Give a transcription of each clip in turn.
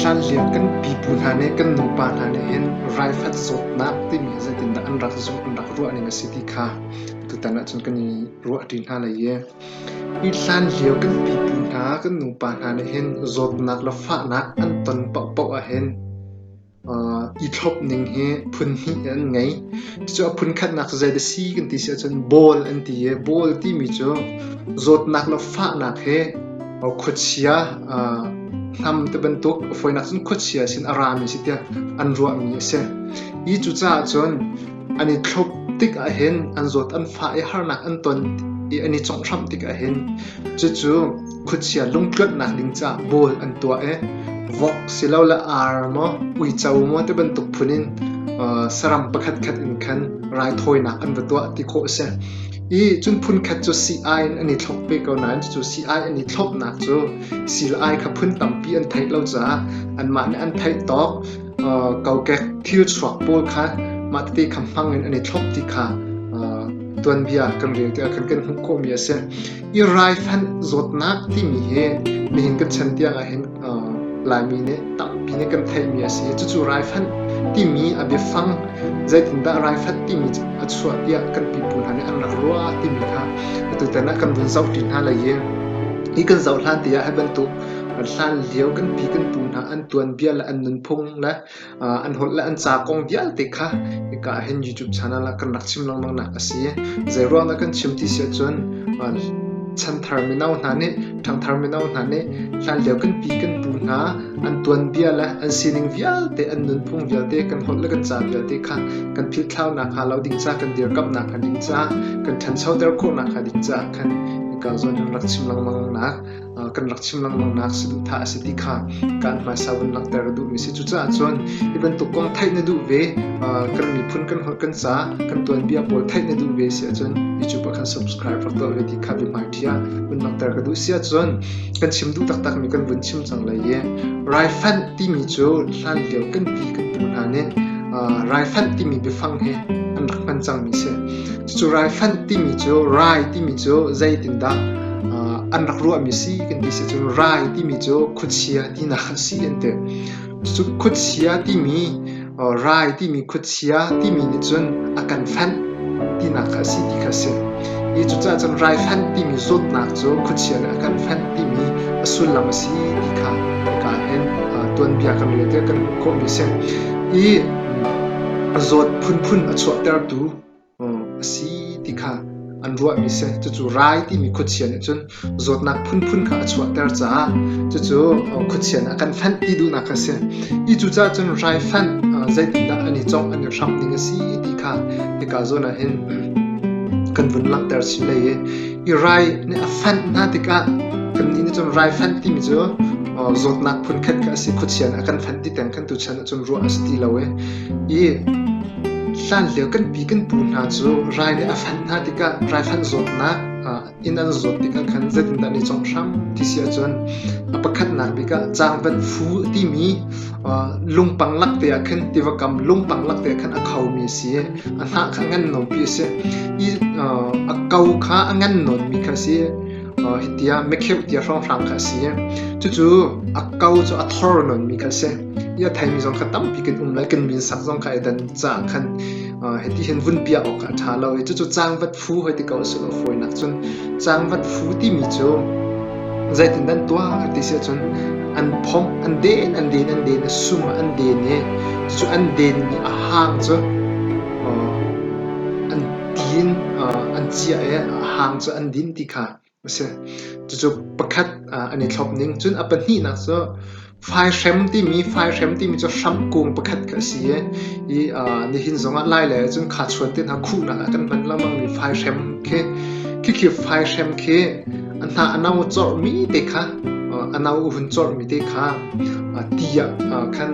Hlanlio kan pipu hna nih kan nupa hna nih hin raifat zawtnak timi zeitindah an rak zawt an rak ruah ning a si ti kha tutan ahcun kan i ruahṭi hna lai i hi hlanlio kan pipu hna kan nupa hna nih hin zawtnak le fahnak an ton paohpaoh ahhin i thlop ning hi phun hnih in an ngei. Cucu a phun khatnak cu zei dah si kan ti si ahcun bawl an ti i bawl timi cu zawtnak le fahnak hi khuachia hnam ti bantuk a fawinak cun khuachia sin a rami a si tiah an ruahmi a si. Hi cucaah cun An i thlop tik ahhin an zawt an fah i harnak an ton i an i conghhramh tik ahhin cucu khuachia lungtluanhnak ding caah bawl an tuah i vok silole ar maw uico maw ti bantuk phun in saram pakhatkhat in khan raithawinak an va tuah ti khawh a si. I cun phunkhat cu sii-ai in an i thlop ve ko nain cucu sii-ai an i thlopnak cu sii le ai kha phun tampi an theih lo caah anmah nih an theih tawk kokek thilchuak pawl kha mah tete kha hmang in an i thlop ti kha tuanbia kan rel tikah kan kan hmuh khawhmi a si. I raifanh zawtnak timi hi nihin kan chan tiangah hin Laimi nih tampi nih kan theihmi a si. Cucu raifanh timi a biafang zeitindah raifanh timi a chuah tiah kan pipu hna nih an rak ruah timi kha atu tan ah kan vun zohṭi hna lai i hi kan zoh hlan tiah hi bantuk Hlanlio kan pi kan pu hna an tuanbia le an nunphung le an holh le an ca kong vialte kha hika ah hin YouTube channel ah kan rak chim lengmangnak a si. Zeiruangdah kan chim ti si ahcun chanthar mino hna nih, ṭhangthar mino hna nih hlanlio kan pi kan pu hna an tuanbia le an sining vialte, an nunphung vialte, kan holh le kan ca vialte kha kan philthlau nakhnga lo ding ca, kan dirkamh nakhnga ding ca, kan ṭhanchoter khawh nakhnga ding ca khan hika zawn in rak chim lengmangnak kan rak chim lengmangnak saduhthah a si ti kha kaan hmaisa vun langhter a duhmi a si. Cucaah cun hi bantuk kong theih na duh ve, kan miphun, kan holh, kan ca, kan tuanbia pawl theih na duh ve si ahcun YouTube ah khan subscribe rak tuah ve ti kha biahmai ṭhi ah vun langhter ka duh si ahcun kan chim duh taktakmi kan vun chim cang lai i raifanh timi cu hlan lio kan ti kan pu hna nih raifanh timi biafang he an rak hman cangmi si. Cu raifanh timi cu rai timi cu zeitindah an rak ruahmi a si kan ti sicun rai timi cu khuachia tinak a si an ti. Cucu khuachia timi rai timi khuachia timi nih cun a kan fanh tinak a si ti kha a si. Hi cucaah cun raifanh timi zawtnak cu khuachia nih a kan fanh timi a sullam a si ti kha kaa len. Tuanbia kan rel tikah kan hmuh khawhmi a si. Hi zawt phunphun a chuahtertu a si ti kha an ruahmi a si. Cucu rai timi khuachia nih cun zawtnak phunphun kha a chuahter caah cucu khuachia nih a kan fanh ti duhnak a si. Hi cucaah cun hraifanh zeitindah an i congh, an i hramh ding a si ti kha hika zawn ah hin kan vun langhter chin hlei i hi rai nih a fanh hna tikah kannih nih cun raifanh timi cu zawtnak phunkhat kha a si. Khuachia nih a kan fanh ti tiang khan tuchan ah cun ruah a si ti lo i I hlanlio kan pi kan pu hna cu rai nih a fanh hna tikah raifanh zawtnak inn an zawt tikah khan zeitindah an i cawngh hram ti si ahcun a pakhatnak bik ah cangvat fu a timi lungpang lakte ah khan tiva kam lungpang lakte ah khan a khomi a si i a hnah kha a ngan nomi a si i a ko kha a ngan nawnmi kha a si hitiah mekheuk tia hrawnghrang kha a si i cucu a ko cu a thor nawnmi kha a si. Iathaimi zong kha tampi kan um lai. Kan min sak zong kha edan caang khan hiti hin vun piah awk a ṭha lo i cucu caangvat phu hoi ti ko asilo fawinak cun caangvat phu timi cu zeitindan tuah ti si ahcun an phomh, an den, an den, an den, a sum ah an den i cucu an den i a hang cu an din, an ciah i a hang cu an din ti kha a si. Cucu pakhat an i thlop ning. Cun a pahnihnak cu faihrem timi faihrem timi cu hram kung pakhat khi a si i i nihin zongah lailei ahcun khachuan te hna khuhnak ah kan hman lengmang mi faihrem khi khi khi faihrem khi a hna a no corhmi te kha a no a hun corhmi te kha ti ah khan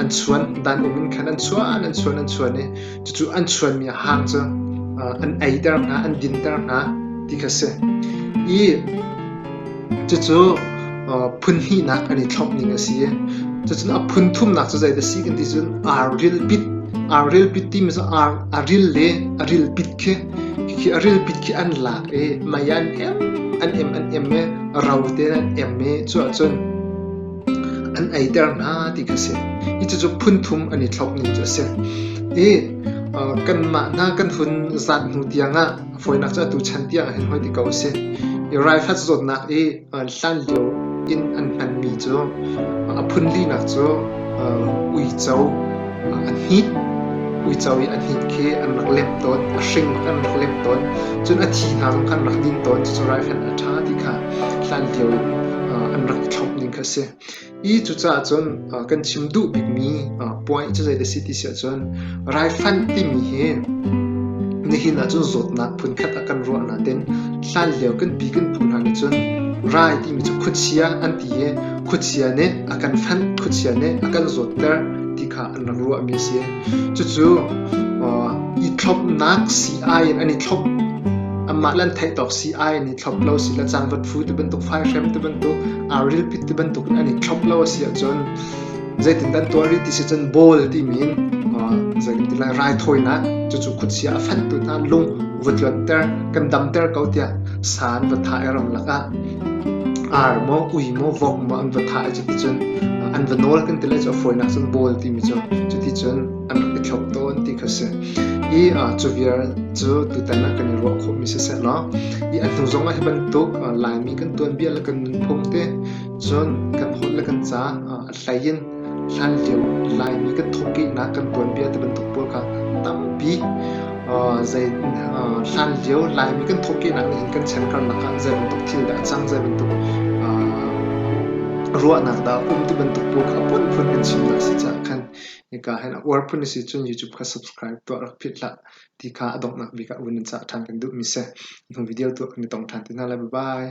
an chuan dan um in khan an chuan an chuan an chuan i Cucu an chuanmi hang cu an eiter hna, an dinter hna ti kha a si. I cucu phun hnihnak kan i thlopning a si i cucun a phun thumnak cu zeidah a si kan ti cun ar rilpit ar rilpit timi cu a ril le a rilpit khi khi a rilpit khi an lak i mei an em an em an em i ro tein an em i cu ahcun an eiter hna ti kha a si. I cucu phunthum an i thlauh nu cu a si. I kanmah hna kan hun zat hnu tiangah fawinak cu atu chan tiangah hin hoi ti ko a si. I raifat zawtnak i hlanlio in an hmanmi cu a phun linak cu uico an hnih uico i an hnih khi an rak lemh tawn a hring bak an rak lemh tawn cun a thihnak in khan rak ding tawn cucu raifanh a ṭha ti kha hlan lio in an rak i thlop ning kha a si i cucaah cun kan chim duh bikmi point cu zei si ti si ahcun raifanh timi hi nihin ah cun zawtnak phunkhat a kan ruah naten hlan lio kan pi kan phu hna nih cun rai timi cu khuachia an ti i khuachia nih a kan fanh, khuachia nih a kan zawtter ti kha an rak ruahmi a si. Cucu i thlopnak si ai in an i thlop amah le an theih tawk si ai an i thlop lo si le cangvat fu ti bantuk faihhrem ti bantuk arrilpit ti bantuk in an i thlop lo a si ahcun zeitin kan tuah rih ti si cun bawl timi in zei kan ti lai raithawinak cucu khuachia a fanhtu hna lung va tluanter kan damter ko tiah sa an va thah i ram lakah Ar maw kui maw vong maw an va thah i cuticun an va nawl kan ti le cu a fawinak cun bawl timi cu cuticun an rak i thlop tawn ti kha a si. I cu vial cu tutan ah kan i ruah khawhmi sisehlaw i a hnu zong ah hi bantuk Laimi kan tuanbia le kan nunphung te cun kan holh le kan ca a hlei in hlanlio Laimi kan thawhkehnak kan tuanbia ti bantuk pawl kha tampi zei hlanlio Laimi kan thawhkehnak nih hin kan chankarnak ah zei bantuk thil dah a cang zei bantuk ruahnak dah a um ti bantuk pawl kha phun phun kan chim hna si caah khan hika hen a uar phun si cun YouTube kha subscribe tuah rak phit hlah ti kha a donghnak bik ah vun in cah ṭhan kan duhmi si hnu video tuah kan i tong ṭhan ti hna lai bye bye